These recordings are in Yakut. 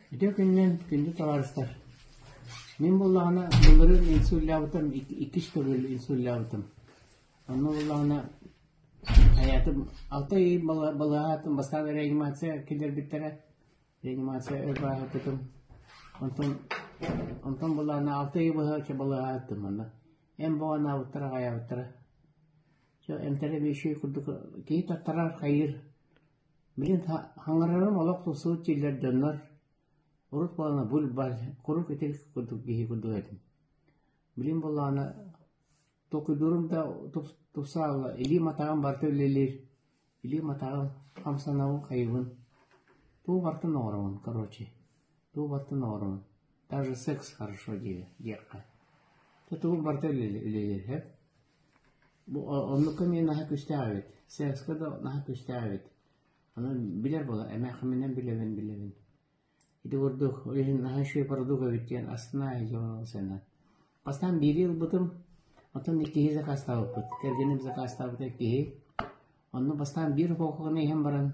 Ити күннэн күндү табаарыстар, мин буоллаҕына былырын инсуллаабытым иккис төгүл инсуллаабытым. Онно буоллаҕына айаатым алта ый балаһаатым бастаан реанимация киллэрбиттэрэ. Реанимация өр балаһаатым. Онтон онтон буоллаҕына алта ый быһачча балаһааттым манна. Эн баҕанаабыттара хайаабыттара. Чэ эмтэрэ биши курдук киһи таттарар хайыыр Билигин хаҥарарым олох тупсубут дьиэлэр дьоннор урут буолана буль-баль, куруук итирик курдук киһи курдук этим. Билигин буоллаҕына толкуйдуурум да тупсаабыла, илиим-атаҕым барыта үлэлиир, илиим-атаҕым хамсанаҕын-хайыгын, тугу барытын оҥоробун, короче. Туубаттан оҕоруҥ. Даже секс хорошо диир диэххэ. Тутугу барта үлэлиэһэ. Бу оннукка мен наһа күстээбит. Секска да наһа күстээбит. Аны билэр була эмээхиминен билэбин билэбин. Ити курдук ойын наһа үшүө парадук эбит диэн астына эһиҗон сэннен. Бастан биир ел бутум, отон иккиһи закастабыппыт. Кэргеним закастабыта иккиһи. Онну бастан биир окуоканы иһен баран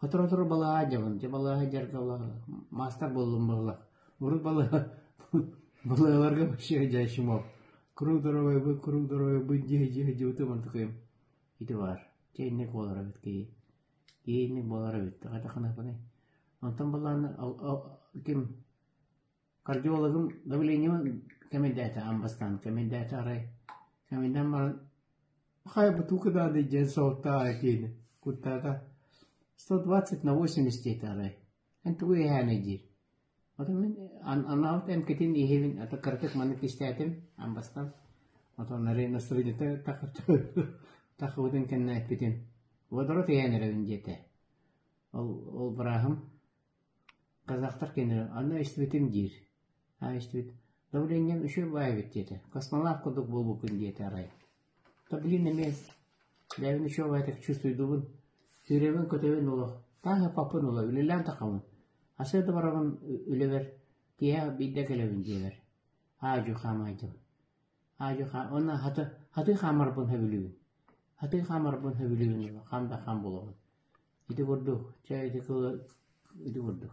Сотору-сотору балаһа дьабын, дьэ балаһа дьарга маастар буоллум балаһа. Урут балаһа балаһаларга вообще жайшымов. Круг здоровья бы, круг здоровья бы, дьиэ дьиэ дьыбытыман тыкыйым. Ити бар. Чэйник буолар эбит кии. Киинник буолар эбит. Хата ханапыны. Онтон балааны ким Кардиологым давлениеҕа кэмэйдээтэ, бастаан кэмэйдээтэ арай кэмэйдээн баран «Хай бу тука надо день солтаа» диэни куттаата сто двадцать на восемьдесят диэтэ арай эн тугу иһээнэй диир отон мин анаабыт эмкэтин иһэбин ата кыратык маннык кистээтим ан бастан отон арай настроениета тахыбытын кэннэ эппитим водород иһээн эрэбин диэтэ ол ол бырааһым Казахтар кинини «Аны истибитиҥ» диир «Аа истибит, добренньям үчүгэй баай эбит» диэтэ, космонавт курдук буолбуппун диэтэ арай «То блин эмиэ бэйэбин үчүгэй баайдык чувствуйдубун, сүүрэбин-көтөбүн олох таах ыппаппын олох үлэлээн таххабын, асы да барабын үлэбэр, киэһэ биирдэ кэлэбин» диэбэр аа-дьуо хаамаайдым Аадьы хаан уонна хатыы хатыы хаамарбын сөбүлүүбүн. Хатыы хаамарбын сөбүлүүн хам да хам булабын. Ити курдук, чэ ити кылы ити курдук